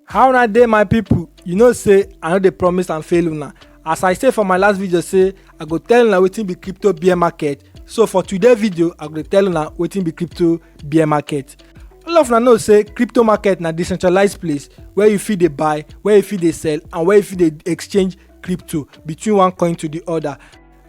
how una dey my people you know say i no dey promise and fail una as i say for my last video say i go tell una wetin be crypto bear market so for today video i go tell una wetin be crypto bear market all of una know say crypto market na decentralized place where you fit dey buy where you fit dey sell and where you fit dey exchange crypto between one coin to the other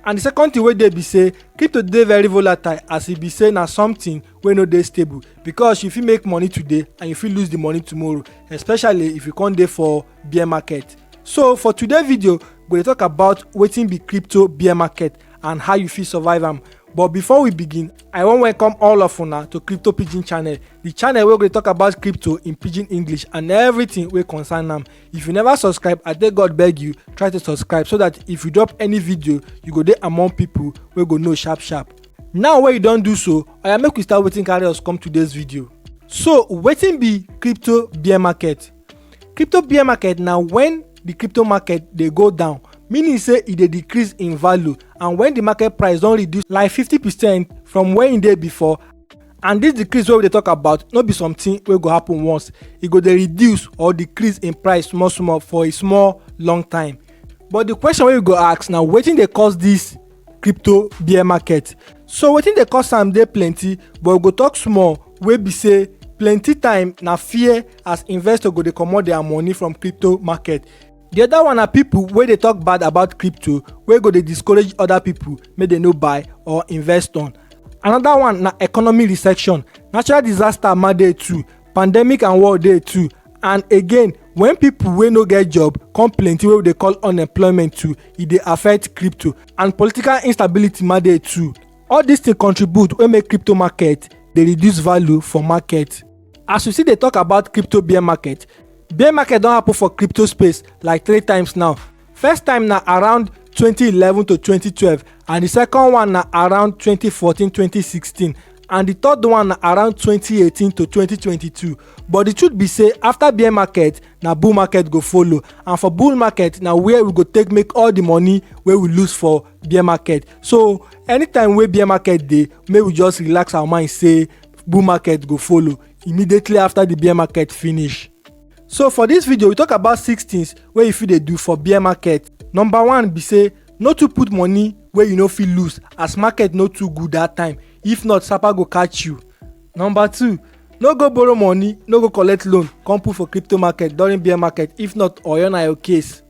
and the second thing wey dey be say crypto dey very volatile as e be say na something wey no dey stable because you fit make money today and you fit lose the money tomorrow especially if you come dey for bear market so for today video we dey talk about wetin be crypto bear market and how you fit survive am but before we begin i wan welcome all of una to crypto pidgin channel the channel wey go dey talk about crypto in pidgin english and everything wey concern am if you never subscribe i take god beg you try to subscribe so that if you drop any video you go dey among people wey go know sharp sharp now wey you don do so oya make we start wetin carry us come today's video so wetin be crypto bear market crypto bear market na when the crypto market dey go down meaning say e dey decrease in value and when the market price don reduce like 50 percent from where e dey before and this decrease wey we dey talk about no be something wey go happen once e go dey reduce or decrease in price small small for a small long time but the question wey you go ask na wetin dey cause this crypto bear market so wetin dey cause am dey plenty but we go talk small wey be say plenty time na fear as investor go dey comot their money from crypto market the other one na people wey dey talk bad about crypto wey go dey discourage other people make dem no buy or invest on another one na economy recession natural disaster ma dey too pandemic and war dey too and again when people wey no get job come plenty wey we dey call unemployment too e dey affect crypto and political instability ma dey too all these things contribute wey make crypto market dey reduce value for market as we still dey talk about crypto bear market bear market don happen for crypto space like three times now first time na around 2011 to 2012 and di second one na around 2014 2016 and di third one na around 2018 to 2022 but di truth be say afta bear market na bull market go follow and for bull market na where we go take make all di money wey we lose for bear market so anytime wey bear market dey make we just relax our mind say bull market go follow immediately afta di bear market finish. So for this video, we talk about six things where you fit dey do for bear market. Number one be say no too put money where you no fit lose as market no too good that time. If not, Sapa go catch you. Number two, no go borrow money, no go collect loan, come put for crypto market during bear market. If not, oyo na your case.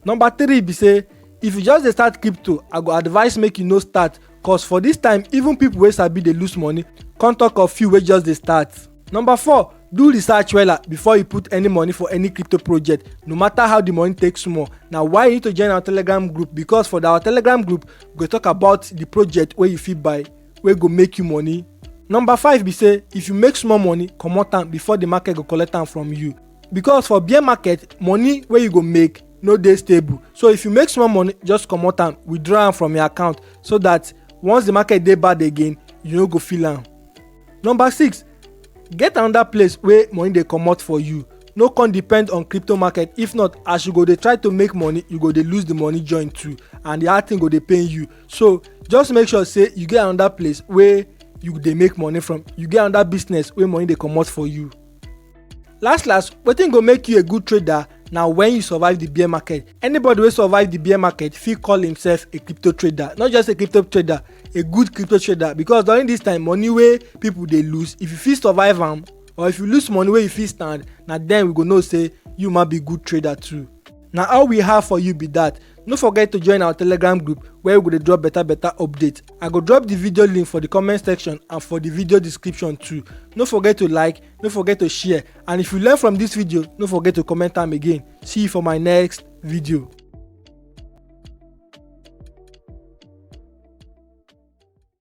Number three be say if you just dey start crypto, I go advise make you no start cause for this time even people wey sabi dey lose money come talk of few wey just dey start. Number four, do research wella before you put any money for any crypto project no matter how the money take small na why you need to join our telegram group because for our telegram group we go talk about the project wey you fit buy wey go make you money. Number five be say if you make small money comot am before the market go collect am from you because for bear market money wey you go make no dey stable so if you make small money just comot am withdraw am from your account so that once the market dey bad again you no go feel am. number six get another place wey money dey comot for you no come depend on crypto market if not as you go dey try to make money you go dey lose the money join too and the hard thing go dey pain you so just make sure say you get another place wey you dey make money from you get another business wey money dey comot for you. last last wetin go make you a good trader na when you survive the bear market anybody wey survive the bear market fit call himself a crypto trader not just a crypto trader a good crypto trader because during this time money wey people dey lose if you fit survive am or if you lose money wey you fit stand na then we go know say you ma be good trader too na all we have for you be that no forget to join our telegram group where we go dey drop better better update i go drop the video link for the comment section and for the video description too no forget to like no forget to share and if you learn from this video no forget to comment am again see you for my next video